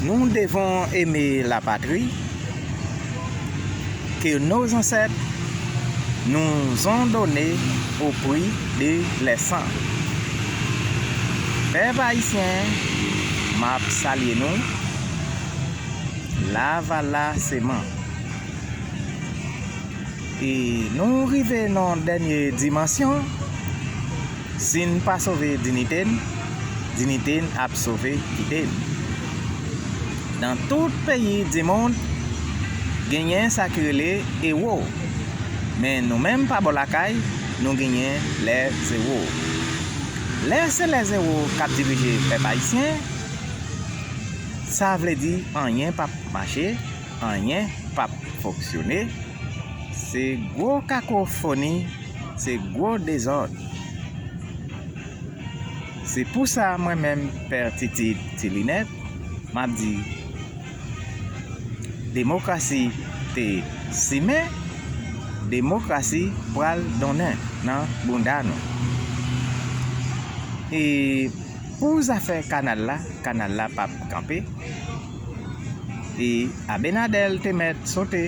Nou devon eme la patri ke nou zansèt nou zon done o pri de lè san. Pèp Ayisyen, m ap salye nou, lavalaseman. E nou rive nan dènye dimansyon. Si n pa sove dinite n, dinite n ap sove kite n. Nan tout peyi dimond, genyen sa ki rele ewo, men nou menm pa bò lakay, nou genyen lè zewo. Lè se lè zewo k ap dirije pèp ayisyen, sa vle di anyen p ap mache, anyen p ap fonksyone, se gwo kakofoni. Se gwo dezòd. Se pou sa mwen menm Pè Titid Ti Linèt m ap di demokrasi te simen, demokrasi pral donnen nan bounda nou. E pou zafè kanal la, kanal la p ap kanpe. E Abenadèl te mèt sote.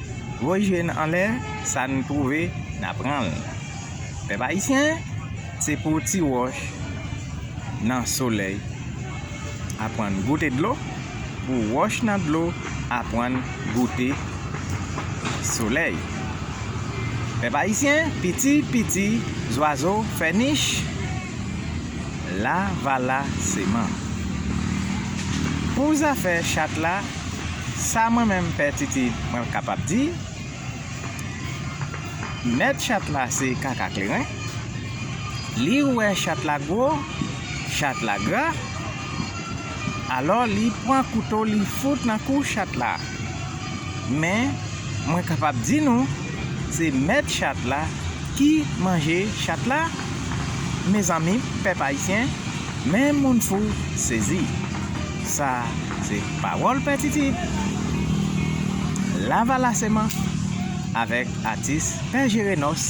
Gwo je n anlè, sa n twouve, n a pran l. Pèp ayisyen, se pou ti wòch nan solèy aprann goute dlo, pou wòch nan dlo aprann goute solèy. Pèp ayisyen, piti piti zwazo fè nich, lavala seman. Pou zafè chat la. Sa mwen menm pè titi mwen kapab di mèt chat la se kaka kleren li wè chat la gwo chat la gra alò li pran kouto li fout nan kou chat la men mwen kapab di nou se mèt chat la ki manje chat la mezanmi pèp ayisyen men moun fou sezi. Sa se pawòl Pè Titi, Lavalaseman, avèk atis Pè Jerenòs,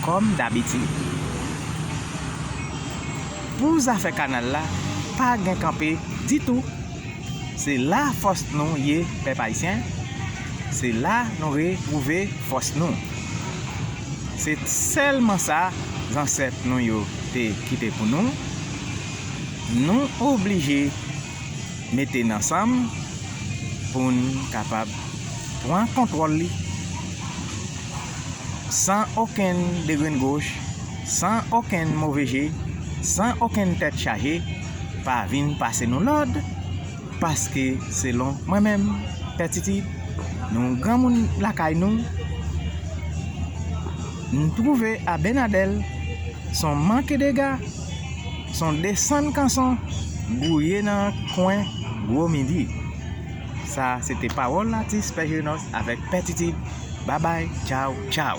kòm dabitid. Pou zafè kanal la, pa gen kanpe ditou. Se la fòs nou ye pèp ayisyen, se la nou retwouve fòs nou. Se sèlman sa zansèt nou yo te kite pou nou. Nou oblije mete n ansanm pou n kapab pran kontwòl li san okenn degrengoch, san okenn move je, san okenn tèt chaje pa vin pase nou lòd paske selon mwen menm Pè Titid, nou granmoun lakay nou, m twouve Abenadèl s on mankedega. Son desann kanson bwouye nan kwen gwo midi. Sa se te pawòl atis Pè Jenos avèk Pè Titid. Babay, tchaw, tchaw!